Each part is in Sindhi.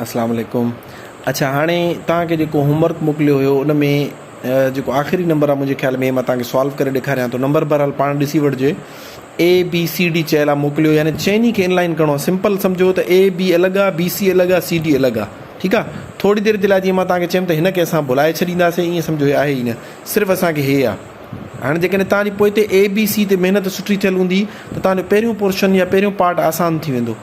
اسلام عليڪم اڇا هاڻي توهان کي جيڪو هوم ورڪ موڪليو هيو ان ۾ جيڪو آخري نمبر آهي منهنجي خيال ۾ مان توهان کي سالو ڪري ڏيکاريان ٿو نمبر بهرحال پاڻ ڏسي وٺجي اي بي سي ڊي چيل آهي موڪليو يعني چئني کي انلائن ڪرڻو آهي سمپل سمجھو ته اي بي الڳ آهي بي سي الڳ آهي سي ڊي الڳ آهي ٺيڪ آهي ٿوري دير جي لاء جيئن مان توهان کي چيم ته هن کي اسان ڀلائي ڇڏينداسي ائين سمجھو هي آهي ئي نه صرف اسان کي هي آهي هاڻي جيڪڏهن توهان جي پوئتي اي بي سي تي محنت سٺي ٿيل هوندي ته توهان جو پهريون پورشن يا پهريون پارٽ آسان ٿي ويندو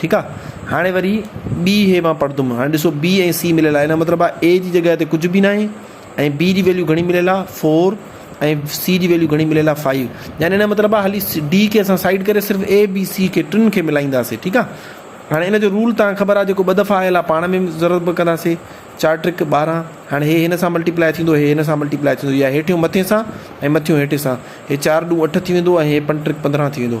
ٺيڪ آ هاڻي وري بي هي مان پڙهندم هاڻي ڏسو بي ۽ سي مليل آهي ان جو مطلب آ اي جي جڳهه تي ڪجهه به ناهي ۽ بي جي ويليو گهڻي مليل آ فور ۽ سي جي ويليو گهڻي مليل آ فائيو يعني ان جو مطلب آ هلي ڊي کي اسان سائيڊ ڪري صرف اي بي سي کي ٽن کي ملائينداسي ٺيڪ آ هاڻي ان جو رول توهان کي خبر آ جيڪو ٻه دفعا آيل آ پاڻ ۾ ضرورت به ڪنداسي چار ٽرڪ ٻارهن هاڻي هي هن سان ملٽيپلائي ٿيندو هي هن سان ملٽيپلائي ٿيندو يا هيٺيون مٿي سان ۽ مٿيون هيٺي سان هي چار ڏون اٺ ٿي ويندو ۽ هي پنج ٽرڪ پندرهن ٿي ويندو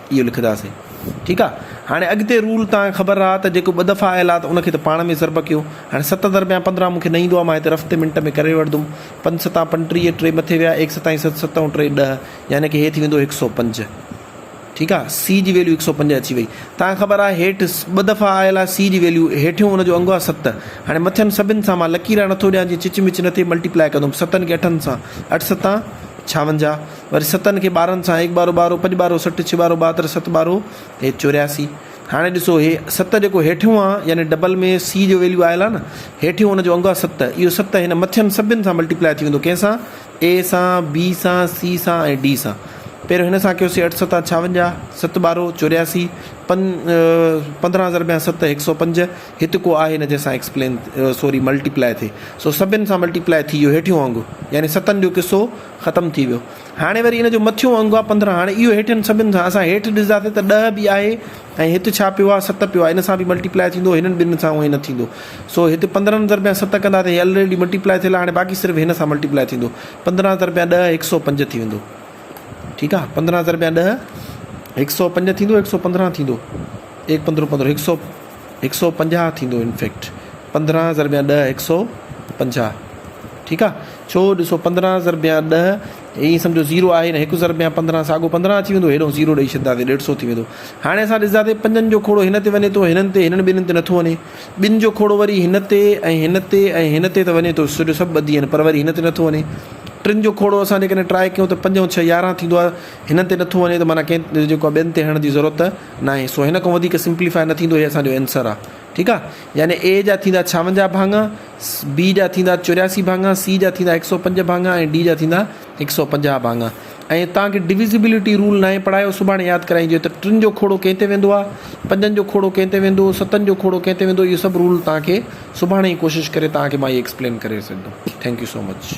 اهو لکنداسين ٺيڪ آ هاڻي اڳتي رول توهان کي خبر آ ته جيڪو ٻه دفعا آيل آ ته ان کي ته پاڻ ۾ ضرب ڪيو هاڻي ست ضرب يا پندرهن مون کي نه ايندو آ مان هتي رف تي منٽ ۾ ڪري وٺدم پنج ستان پنٽيهه ٽي مٿي ويا ايڪ ستائين ست ستون ٽي ڏهه يعني ڪي هي ٿي ويندو هڪ سؤ پنج ٺيڪ آ سي جي ويليو هڪ سؤ پنج اچي وئي توهان کي خبر آ هيٺ ٻه دفعا آيل آ سي جي ويليو هيٺيون ان جو انگ آ ست هاڻي مٿين سڀن سان مان لڪيرا نٿو ڏيان جي چچ مچ نه ٿئي ملٽي پلائي ڪندم ستن کي اٺن سان اٺ ستان ڇاونجاهه وري ستن کي ٻارن سان هيڪ ٻارو ٻارو، پڄ ٻارو سٺ، ڇهه ٻارو ٻاهتر، ست ٻارو هيڪ چورياسي. هاڻي ڏسو هي ست جيڪو هيٺيون آ يعني ڊبل ۾ سي جو ويليو آيل آ نه هيٺيون ان جو انگ آ ست اهو ست هن مٿين سڀن سان ملٽيپلائي ٿي ويندو ڪنهن سان اي سان بي سان سي سان ۽ ڊي سان پهريون هن سان ڪيوسي اٺ ستا ڇاونجاهه ست ٻارو چورياسي پن پندرهن هزار ٻيا ست هڪ سو پنج هت ڪو آهي نه جنهن سان ايڪسپلين سوري ملٽيپلائي ٿي سو سڀن سان ملٽيپلائي ٿي ويو هيٺيون انگ يعني ستن جو قصو ختم ٿي ويو هاڻي وري ان جو مٿيون انگ آ پندرهن هاڻي اهو هيٺين سڀن سان اسان هيٺ ڏسداسين ته ڏهه به آهي ۽ هت ڇا پيو آ ست پيو آ ان سان به ملٽي پلائي ٿيندو هنن ٻن سان اونهي نه ٿيندو سو هت پندرهن ضربيا ست ڪندا ته هي الريڊي ملٽي پلائي ٿيل آ هاڻي باقي صرف هن سان ملٽي پلائي ٿيندو پندرهن ضربيا ڏهه هڪ سو پنج ٿي ويندو ٺيڪ آ پندرهن ضربيا ڏهه هڪ سو پنج ٿيندو هڪ سو پندرهن ٿيندو ايڪ پندرهون پندرهون هڪ سو هڪ سؤ پنجاهه ٿيندو انفيڪٽ پندرهن ضرب يا ڏهه هڪ سؤ پنجاهه ٺيڪ آ ڇو ڏسو پندرهن ضرب يا ڏهه ائين سمجھو زيرو آهي نه هڪ ضرب يا پندرهن ساڳو پندرهن اچي ويندو هيڏو زيرو ڏئي ڇڏنداسي ڏيڍ سؤ ٿي ويندو هاڻي اسان ڏسنداسي پنجن جو کوڙو هن تي وڃي ٿو هنن تي هنن ٻنهن تي نٿو وڃي ٻن جو کوڙو وري هن تي ۽ هن تي ۽ هن تي ته وڃي ٿو سڄو سڀ ٻڌي آهن پر وري هن تي نٿو وڃي ٽن جو کوڙو اسان جيڪڏهن ٽرائي ڪيون ته پنج ۽ ڇهه يارهن ٿيندو آ هنن تي نٿو وڃي ته معنيٰ ڪنهن جيڪو ٻين تي هڻڻ جي ضرورت ناهي سو هن کان وڌيڪ سمپليفاء نه ٿيندو هي اسان جو اينسر آ ٺيڪ آ يعني اي جا ٿيندا ڇاونجاهه ڀاڱا بي جا ٿيندا چورياسي ڀاڱا سي جا ٿيندا هڪ سو پنج ڀاڱا ۽ ڊي جا ٿيندا هڪ سو پنجاهه ڀاڱا ۽ تان کي ڊويزيبلٽي رول ناهي پڙهايو سڀاڻي ياد ڪرائين جو ته ٽن جو کوڙو ڪنهن تي ويندو آ پنجن جو کوڙو ڪنهن تي ويندو ستن جو کوڙو ڪنهن تي ويندو اهي سڀ رول تان کي سڀاڻي ئي ڪوشش ڪري تان کي مان اهي ايڪسپلين ڪري سگهندو ٿينڪ يو سو مچ.